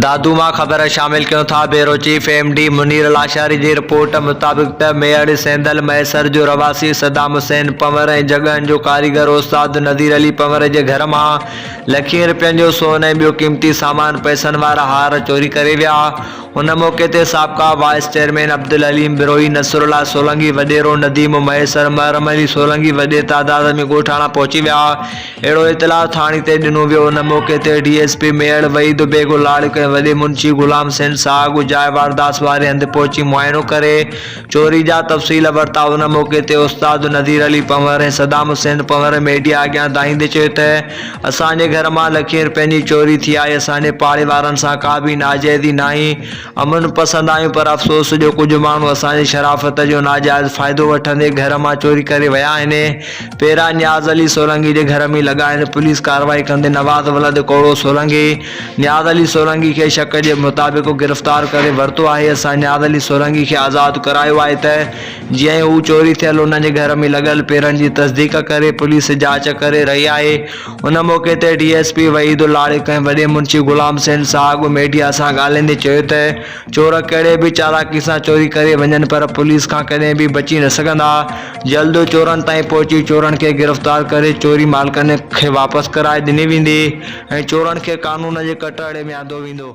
دادو مان خبر شامل ڪيون ٿا، bureau chief M D Munir Lashari جي رپورٽ مطابق ته ميڙ سيندل مهيسر جو رهواسي صدام حسين پنور ۽ جڳهن جو ڪاريگر استاد نذير علي پنور جي گهر مان لکين رپين جو سون ۽ ٻيو قيمتي سامان پئسن وارا هار چوري ڪري ويا ان موقعي تي سابقا وائيس چيئرمين عبدالحليم بروهي نصرالله سولنگي وڏيرو نديم مهيسر محرم علي سولنگي وڏي تعداد ۾ ڳوٺاڻا پهچي ويا اهڙو اطلاع ٿاڻي تي ڏنو ويو ان موقعي تي D S P Mehar Waheed Baig لاڙڪ ۽ وڏي منشي غلام سين ساهه ڳجهائي وارداس واري هنڌ پهچي معائنو ڪري چوري جا تفصيل ورتا ان موقعي تي استاد نذير علي پنهور ۽ صدام حسين پنهور ميڊيا اڳيان دانهيندي چيو ته اسان جي گهر مان لکين روپين جي چوري ٿي آهي اسان جي پاڙي وارن سان ڪا به ناجائزي ناهي امن پسند آهيون پر افسوس جو ڪجهه ماڻهو اسان جي شرافت جو ناجائز فائدو وٺندي گهر مان چوري ڪري ويا آهن. پيرا نياز علي سولنگي جي گهر ۾ لڳا آهن، پوليس ڪارروائي ڪندي نواز ولد ڪوڙو سولنگي نياز علي سولنگي کي شڪ جي مطابق گرفتار ڪري ورتو آهي، اسان نياز علي سولنگي کي آزاد ڪرايو آهي ته جيئن ئي هو چوري ٿيل انهن جي گهر ۾ لڳل پيرن جي تصديق ڪري پوليس جاچ ڪري رهي آهي. ان موقعي تي ڊي ايس پي وحيد الارق ۽ وڏي منشي غلام حسين صاحب ميڊيا سان ڳالهائيندي چيو ته چور ڪهڙي به چالاڪي سان چوري ڪري وڃن پر پوليس کان ڪڏهن به بچي نه سگهندا، جلد چورن تائين پهچي چورن کي گرفتار ڪري چوري مالڪن کي واپس ڪرائي ڏني ويندي ۽ چورن کي قانون جي ڪٽهڙي ۾ آندو ويندو.